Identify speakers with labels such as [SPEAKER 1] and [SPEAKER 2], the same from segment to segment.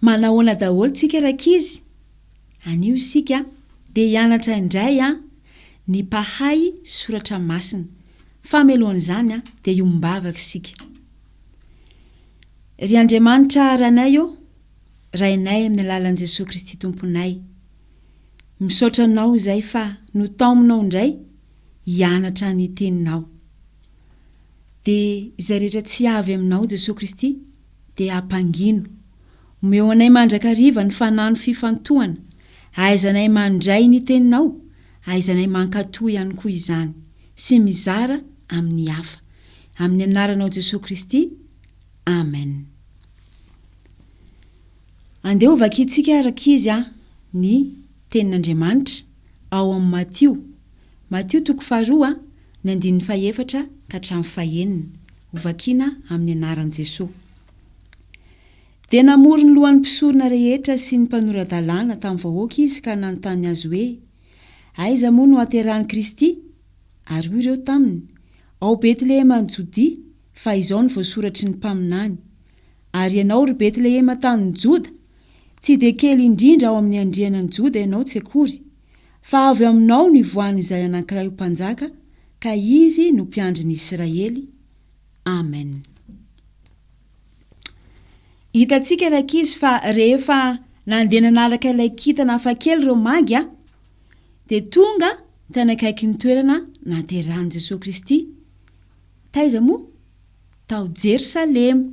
[SPEAKER 1] Manahoana daholo tsika rankizy? Anio isika dia hianatra indray a ny mpahay soratra masina fa melohan'izany a dia hiombavaka isika. Ry Andriamanitra Ranay ô, Rainay amin'ny alalan'i Jesoa Kristy Tomponay. Misaotra anao izay fa notaominao indray hianatra ny Teninao. Dia izay rehetra tsy avy aminao Jesoa Kristy dia ampangino. Omeo anay mandrakariva ny fanano fifantohana, ahaizanay mandray ny Teninao, ahaizanay mankatò ihany koa izany, sy mizara amin'ny hafa. Amin'ny Anaranao Jesoa Kristy. Amen. Andeha hovakintsika araka izy a ny tenin'Andriamanitra ao amin'ny Matio, Matio toko faharoa ny andininy fahefatra ka hatramin'ny fahenina, hovakiana amin'ny anaran'i Jesoa. Dia namory ny lohan'ny mpisorona rehetra sy ny mpanora-dalàna tamin'ny vahoaka izy ka nanontany azy hoe, Aiza moa no haterahan'i Kristy? Ary hoy ireo taminy, Ao Betlehema any Jodia, fa izao no voasoratry ny mpaminany, Ary ianao, ry Betlehema tanin'i Joda, tsy dia kely indrindra ao amin'ny andriana an'i Joda ianao tsy akory, fa avy aminao no hivoahan'izay anankiray ho mpanjaka, ka izy no mpiandry ny Israely. Amen. Hitantsika ry ankizy fa rehefa nandeha nanaraka ilay kintana hafakely ireo magy a, dia tonga tany akaikin'ny toerana nahaterahan'i Jesoa Kristy. Taiza moa? Tao Jerosalema.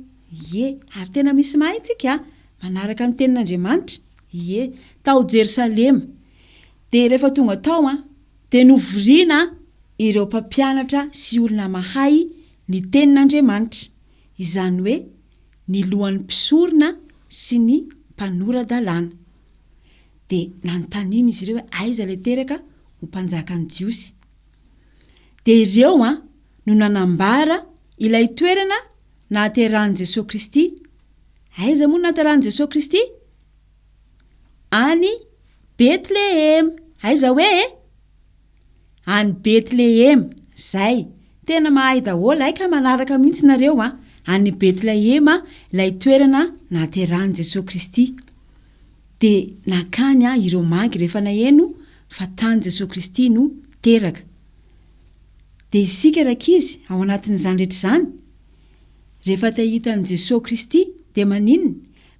[SPEAKER 1] Ie. Ary tena misy mahay tsika a! Manaraka ny tenin'Andriamanitra. Ie. Tao Jerosalema. Dia rehefa tonga tao an, dia novoriana ireo mpampianatra sy olona mahay ny tenin'Andriamanitra, izany hoe ny lohan'ny mpisorona sy ny mpanora-dalàna. Dia nanontaniana izy ireo hoe aiza ilay teraka ho mpanjakan'ny Jiosy. dia ireo an no nanambara ilay toerana nahaterahan'i Jesoa Kristy, aiza moa no nahaterahan'i Jesoa Kristy? Any Bethlehema, aiza hoe e? Any Bethlehema, zay, tena mahay daholo, hay ka manaraka mihintsy nareo an, any Bethlehema ilay toerana nahaterahan'i Jesoa Kristy. dia nakany ahy ireo magy rehefa naheno fa tany Jesoa Kristy no teraka. Dia isika rankizy ao anatin'izany rehetra izany? Rehefa te hahita an'i Jesoa Kristy dia maninona?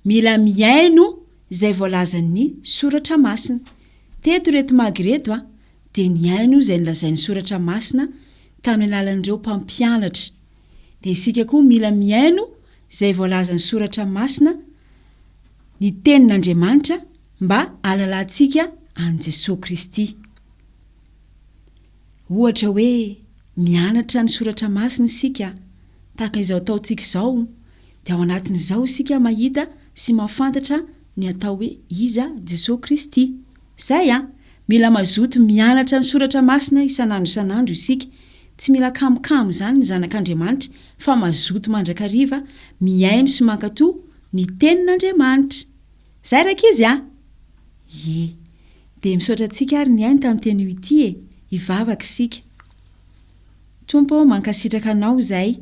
[SPEAKER 1] Mila mihaino izay voalazan'ny Soratra Masina. Teto ireto magy ireto dia nihaino izay nolazain'ny Soratra Masina tamin'ny alalan'ireo mpampianatra dia isika koa mila mihaino izay voalazan'ny Soratra Masina, ny Tenin'Andriamanitra, mba hahalalantsika an'i Jesoa Kristy. Ohatra hoe mianatra ny Soratra Masina isika, tahaka izao ataontsika izao, dia ao anatin'izao isika mahita sy mahafantatra ny atao hoe iza Jesoa Kristy. Izay an! Mila mazoto mianatra ny Soratra Masina isan'andro isan'andro isika, Tsy mila kamokamo izany ny zanak'Andriamanitra fa mazoto mandrakariva mihaino sy mankato ny tenin'Andriamanitra. Zay rankizy a! Ie. Dia misaotra antsika ary nihaino tamin'ity anio ity e! Hivavaka isika. Tompo ô, mankasitraka Anao izahay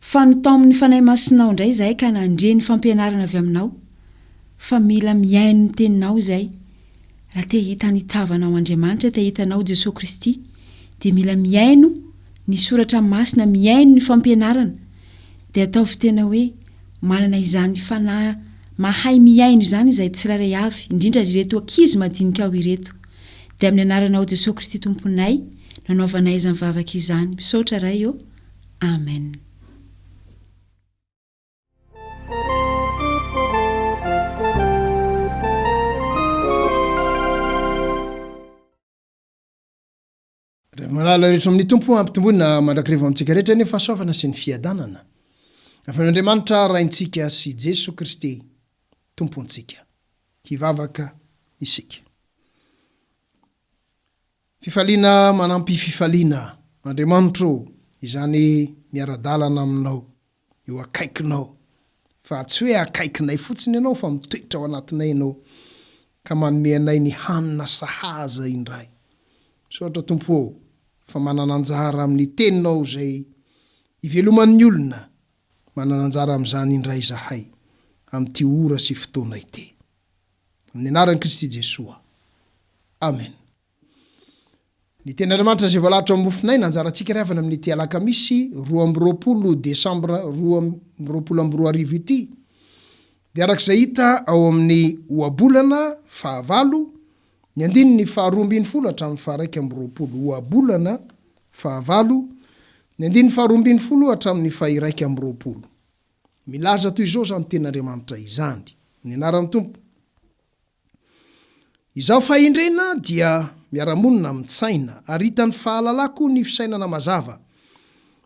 [SPEAKER 1] fa notaomin'ny Fanahy Masinao indray izahay ka nandre ny fampianarana avy Aminao fa mila mihaino ny Teninao izahay. Raha te hahita ny tavanao Andriamanitra, te hahita anao Jesoa Kristy, dia mila mihaino ny soratra masina, mihaino ny fampianarana, dia ataovy tena hoe manana izany fanahy mahay mihaino izany izahay tsirairay avy, indrindra ireto ankizy madinikao ireto. Dia amin'ny anaranao Jesoa Kristy Tomponay no anaovanay izany vavaka izany. Misaotra Ray ô. Amen.
[SPEAKER 2] Malala rehetra amin'ny tompo ampitomboina mandrakireva amintsika rehetra ny fahasoavana sy ny fiadanana avy amin'Andriamanitra raintsika sy Jeso Kristy tompontsika. Hivavaka isika. Fifaliana manampy fifaliana Andriamanitro izany miara-dalana aminao eo akaikinao, fa tsy hoe akaikinay fotsiny ianao fa mitoetra ao anatinay ianao ka manome anay ny hanina sahaza indray. Misaotra Tompo ô fa manana anjara amin'ny teninao izay iveloman'ny olona, manana anjara amin'izany indray izahay amin'ity ora sy fotoana ity. Amin'ny anaran'i Kristy Jesoa. Amen. Ny tenin'Andriamanitra izay voalahatra ao amin'ny mofonay no anjarantsika ry havana amin'ity alakamisy roa amby roapolo desambra roa amby roapolo amby roa arivo ity dia araka izay hita ao amin'ny Ohabolana fahavalo ny andininy faharoa ambin'ny folo hatramin'ny faharaika amby roapolo. Ohabolana fahavalo ny andininy faharoa ambin'ny folo hatramin'ny fahiraika amby roapolo. Milaza toy izao izany tenin'Andriamanitra izany. Ny anaran'ny Tompo. Izaho fahendrena dia miara-monina amin'ny tsaina, ary hitan'ny fahalalako ny fisainana mazava.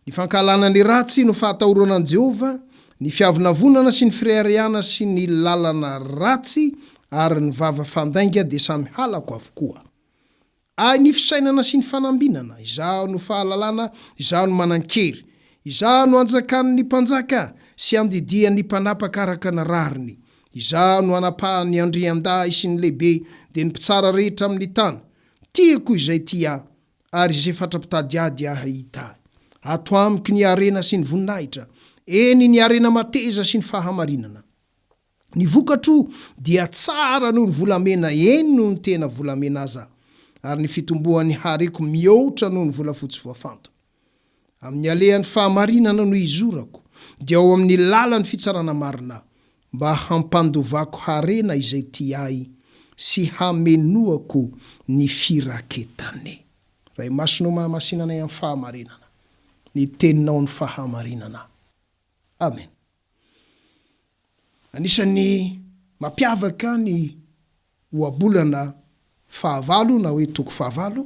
[SPEAKER 2] Ny fankahalana ny ratsy no fahatahorana an'i Jehovah, ny fiavonavonana sy ny fireharehana sy ny lalana ratsy ary ny vava fandainga dia samy halako avokoa. Ahy ny fisainana sy ny fanambinana, Izaho no fahalalana, Izaho no manan-kery, Izaho no anjakan' ny mpanjaka sy andidian' ny mpanapaka araka ny rariny, Izaho no anapahan' ny andriandahy sy ny lehibe, dia ny mpitsara rehetra amin' ny tany. Tiako izay tia Ahy, ary izay fatra-pitady Ahy dia hahita Ahy. Ato amiko ny harena sy ny voninahitra, eny, ny harena mateza sy ny fahamarinana. Ny vokatro dia tsara noho ny volamena eny noho ny tena volamena aza ary ny fitomboan'ny hareko mihoatra noho ny volafotsy voafantina. Amin'ny alehan'ny fahamarinana no izorako dia ao amin'ny lalan'ny fitsarana marina mba hampandovako harena izay tia ahy sy hamenoako ny firaketany. Ray Masina ô manamasina anay amin'ny fahamarinana, ny teninao ny fahamarinana. Amen. Anisan'ny mampiavaka ny ohabolana fahavalo na hoe toko fahavalo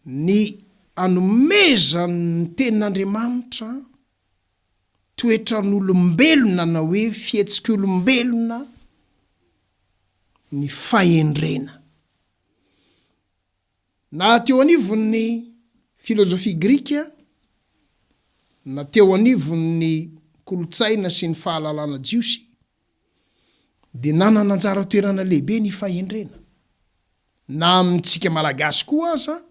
[SPEAKER 2] ny anomezan'ny tenin'Andriamanitra toetran'olombelona na hoe fihetsik'olombelona ny fahendrena. Na teo anivon'ny filozofia grika, na teo anivon'ny kolontsaina sy ny fahalalana jiosy, dia nanana anjara toerana lehibe ny fahendrena. Na amintsika Malagasy koa aza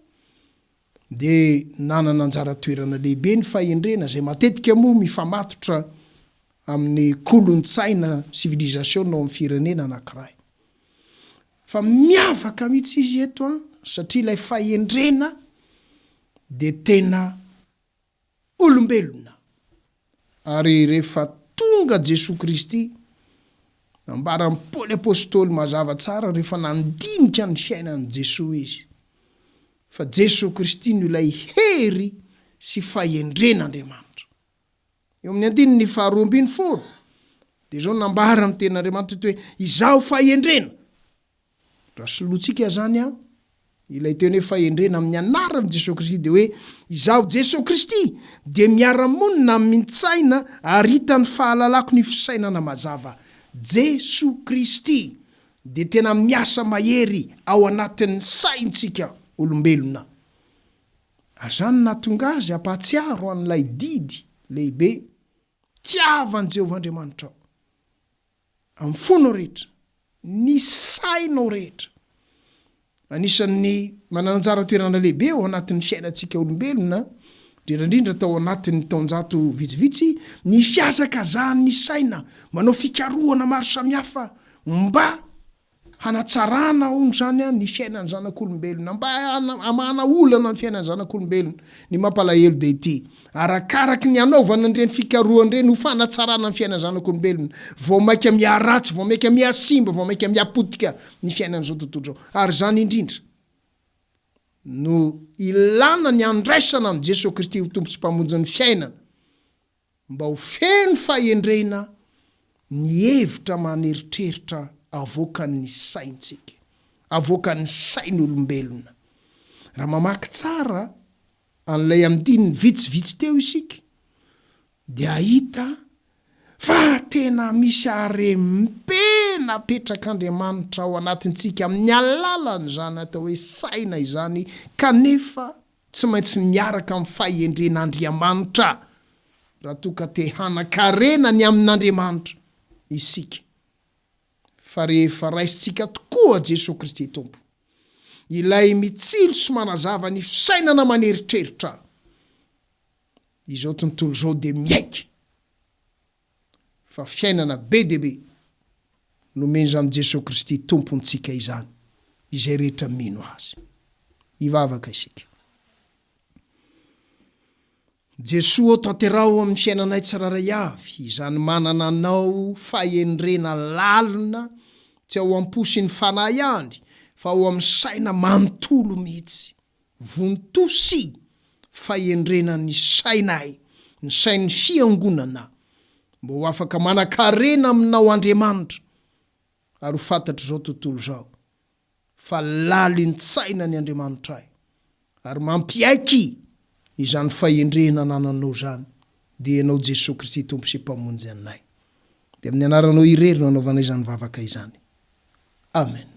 [SPEAKER 2] dia nanana anjara toerana lehibe ny fahendrena, izay matetika moa mifamatotra amin'ny kolontsaina, civilisation, ao amin'ny firenena anankiray. Fa miavaka mihitsy izy eto an, satria ilay fahendrena dia tena olombelona. Ary rehefa tonga Jesoa Kristy, nambaran'i Paoly Apostoly mazava tsara rehefa nandinika ny fiainan'i Jesoa izy, fa Jesoa Kristy no ilay hery sy fahendren'Andriamanitra. Eo amin'ny andininy faharoa ambin'ny folo dia izao nambara ny tenin'Andriamanitra eto hoe izaho fahendrena. Raha solointsika izany an, ilay teny hoe fahendrena amin'ny anaran'i Jesoa Kristy dia hoe izaho Jesoa Kristy dia miara-monina amin-tsaina ary hitan'ny fahalalako ny fisainana mazava. Jesoa Kristy dia tena miasa mahery ao anatin'ny saintsika olombelona. ary izany no nahatonga azy hampahatsiaro an'ilay didy lehibe, Tiava an'i Jehovah Andriamanitrao amin'ny fonao rehetra, ny sainao rehetra. Anisan'ny manana anjara toerana lehibe ao anatin'ny fiainantsika olombelona, indrindra indrindra tao anatin'ny taonjato vitsivitsy, ny fihazakazahan'ny saina manao fikarohana maro samihafa mba Hanatsarana hono izany ny fiainan'ny zanak'olombelona, mba hamahana olana ny fiainan'ny zanak'olombelona. Ny mampalahelo dia ity, arakaraky ny hanaovana an'ireny fikarohana ireny ho fanatsarana ny fiainan'ny zanak'olombelona, vao mainka miharatsy, vao mainka mihasimba, vao mainka mihapotika ny fiainan'izao tontolo izao. Ary izany indrindra no ilana ny handraisana an'i Jesoa Kristy ho Tompo sy Mpamonjin'ny fiainana, mba ho feno fahendrena ny hevitra aman'eritreritra avoakan'ny saintsika, avoakan'ny sain'olombelona. Raha mamaky tsara an'ilay andininy vitsivitsy teo isika dia hahita fa tena misy harem-pe napetrak'Andriamanitra ao anatintsika amin'ny alalan'izany atao hoe saina izany kanefa Tsy maintsy miaraka amin'ny fahendren'Andriamanitra raha toa ka te hanan-karena ny amin'Andriamanitra isika, fa rehefa raisintsika tokoa Jesoa Kristy Tompo, Ilay mitsilo sy manazava ny fisainana aman'eritreritra izao tontolo izao dia miaiky. fa fiainana be dia be nomen'izany Jesoa Kristy Tompontsika izany izay rehetra mino Azy. Hivavaka isika. Jesoa ô tanteraho amin'ny fiainanay tsirairay avy izany manana Anao fahendrena lalina tsy ao am-po sy ny fanahy ihany fa ao amin'ny saina manontolo mihitsy. Vontosi fahendrena ny sainay, ny sain'ny Fiangonana, mba ho afaka manan-karena Aminao Andriamanitra, ary ho fantatr'izao tontolo izao fa lalin-tsaina ny Andriamanitray, ary mampiaiky izany fahendrena anananao izany, dia Ianao Jesoa Kristy Tompo sy Mpamonjy anay. Dia amin'ny Anaranao irery no anaovanay izany vavaka izany. Amen.